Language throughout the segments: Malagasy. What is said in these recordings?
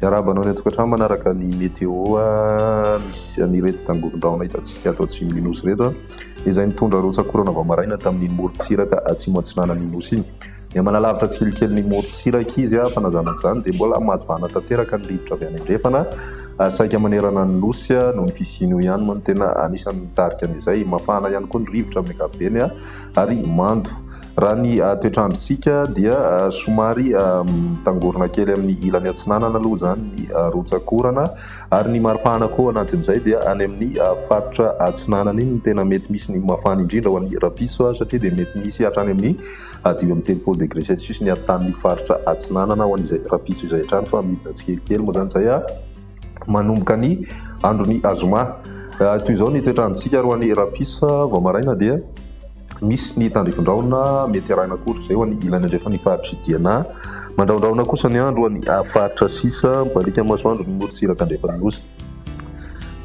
Miarahaba anao ny an-tokantrano manaraka ny météo ah, misy an'ireto tangoron-drahona hitantsika ato atsimo ny nosy ireto ah. izay nitondra rotsakorana vao maraina tamin'iny morontsiraka atsimo atsinanan'ny nosy iny Miha manalavitra tsilikely ny morontsiraka izy fa na izany na tsy izany dia mbola mahazo vahana tanteraka ny rivotra avy any andrefana saika manerana ny Nosy noho ny fisian'io ihany moa no tena anisan'ny mitarika an'izay. Mafana ihany koa ny rivotra amin'ny ankapobeny ary mando. Raha ny toetr'androntsika dia somary mitangorona kely amin'ny ilany atsinanana aloha izany ny rotsak'orana ary ny maripana koa anatin'izay dia any amin'ny faritra atsinanana iny no tena mety misy ny mafana indrindra ho an'ny rapiso satria dia mety misy hatrany amin'ny Hadio amin'ny telopolo degré celcius ny aritanin'io faritra atsinanana ho an'izay rahampitso izay hatrany fa midina tsikelikely moa izany izay manomboka ny andron'ny azoma. Toy izao ny toetrandro isika ary ho an'ny rahampitso vao maraina dia misy ny tandrifin-drahona mety arahina akory izay ho an'ny ilany andrefan'ny faritry Diana. Mandrahondrahona kosa ny andro ho an'ny faritra sisa, mibaliaka masoandro ny morotsiraka andrefan'ny nosy.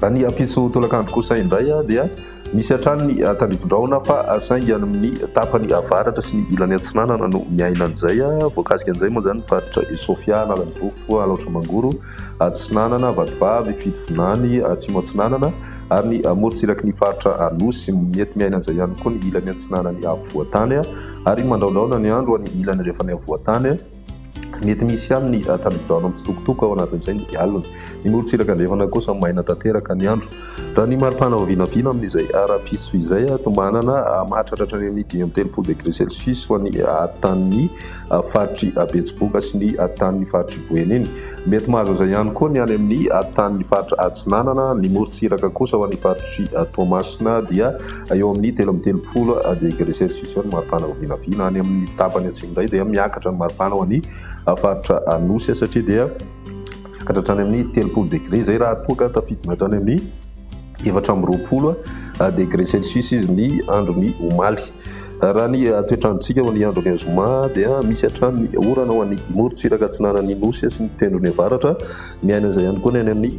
Any Ampiso tolakandro kosa indray dia misy hatrany ny tandrifin-drahona fa saingy any amin'ny tapany avaratra sy ny ilany atsinanana no miaina an'izay. Voakasika an'izay moa izany ny faritra Sofia, Analanjirofo, Alaotra Mangoro, Atsinanana, Vatovavy, Fitovinany, Atsimo Atsinanana ary ny morontsiraky ny faritra Anosy. Mety miaina an'izay ihany koa ny ilany atsinanan'ny afovoan-tany ary mandraondraona ny andro any ilany andrefan'ny afovoan-tany. Mety misy ihany ny tanibodoana mitsitokotoko ao anatin'izay ny alina. Ny morontsiraka andrefana kosa maina tanteraka ny andro. Raha ny maripana vao vinavina amin'izay ara-piso izay, tombanana mahatratra hatrany amin'ny dimy amby telopolo degre celsius ho an'ny tanin'ny faritry Betsiboka sy ny tanin'ny faritry Boeny iny. Mety mahazo an'izay ihany koa ny any amin'ny tanin'ny faritra Atsinanana. Ny morontsiraka kosa ho an'ny faritry Toamasina dia Eo amin'ny telo amby telopolo degre selsisios ny maripana ao vinavina. Any amin'ny tapany atsimo indray dia miakatra ny maripana ao amin'ny faritra Anosy satria dia miakatra hatrany amin'ny telopolo degre izay raha toa ka tafidina hatrany amin'ny efatra amby roapolo degre selsisios izy ny andron'ny omaly. Raha ny toetrandrontsika ho ny andron'ny zoma dia misy hatrany ny orana ho an'ny Imorontsiraka atsinanan'ny Nosy sy ny tendrony avaratra. Miaina izay ihany koa ny any amin'ny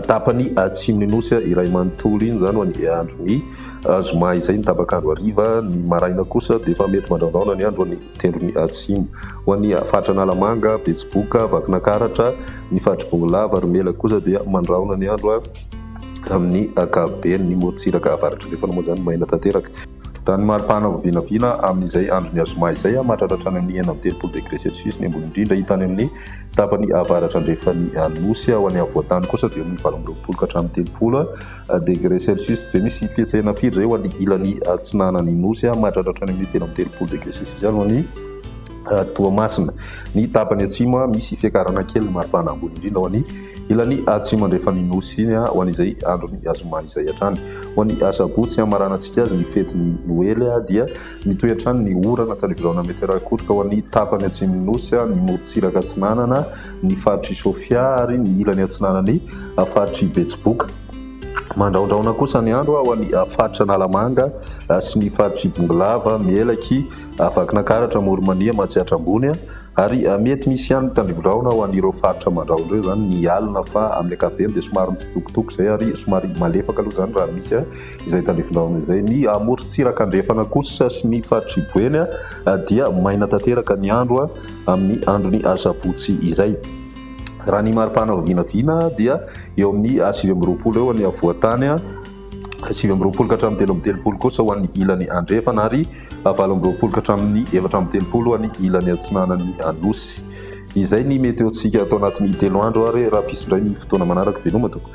tapany atsimon'ny nosy iray manontolo iny izany ho an'ny andron'ny zoma izay ny tabakandro hariva ny maraina kosa dia efa mety mandraondraona ny andro an'ny tendron'ny atsimo ho an'ny faritra analamanga betsiboka vakinakaratra ny fatribongolava ry mela kosa dia mandraona ny andro a amin'ny akaben ny motsiraka avaratra rehefa namoa izany maina tanteraka raha ny maripana vinavina amin'izay andron'ny azoma izay a mahatratratra any amin'ny enam telopolo degre celsius ny ambony indrindra hitany amin'ny Tapany avaratra-andrefan'ny Nosy ao any afovoan-tany kosa dia eo amin'ny valo amby roapolo ka hatramin'ny telopolo degré celsius. Dia misy fihetsehana firy izay eo amin'ny ilany atsinanan'ny Nosy, mahatratra hatrany amin'ny telo amby telopolo degré celsius aloha ny Toamasina. Ny tapany atsimo misy fiakarana kely maripana ambony indrindra ao any ilany atsimo andrefan'ny Nosy iny ho an'izay andron'ny zoma izay hatrany. Ho an'ny asabotsy hamaranantsika azy ny fetin'ny Noely dia Mitohy hatrany ny orana tany Viraona Metera-Ikotroka ho an'ny tapany atsimon'ny Nosy, ny morontsiraka atsinanana, ny faritr'i Sofia ary ny ilany atsinanan'ny faritr'i Betsiboka. Mandraondraona kosa ny andro ho an'ny faritra Analamanga sy ny faritr'i Bongolava, Melaky, Vakinankaratra, Amoronmania, Matsiatra Ambony ary mety misy ihany ny tandriviraona ho an'ireo faritra Mandrahona ireo izany ny alina fa amin'ny ankapobeny dia somary mitsitokotoko izay ary somary malefaka aloha izany raha misy. izay tandrify laona izay. Ny amorontsiraka andrefana kosa sy ny faritr'i Boeny dia maina tanteraka ny andro amin'ny andron'ny asabotsy izay. Raha ny maripana vao vinavina dia eo amin'ny sivy amby roapolo eo ny havoan-tany, sivy amby roapolo ka hatramin'ny telo amby telopolo kosa ho an'ny ilany andrefana ary valo amby roapolo ka hatramin'ny efatra amby telopolo ho an'ny ilany atsinanan'ny Anosy. Izay ny meteontsika ato anatin'ny telo andro ary raha mpisy indray ny fotoana manaraka veloma tompoko.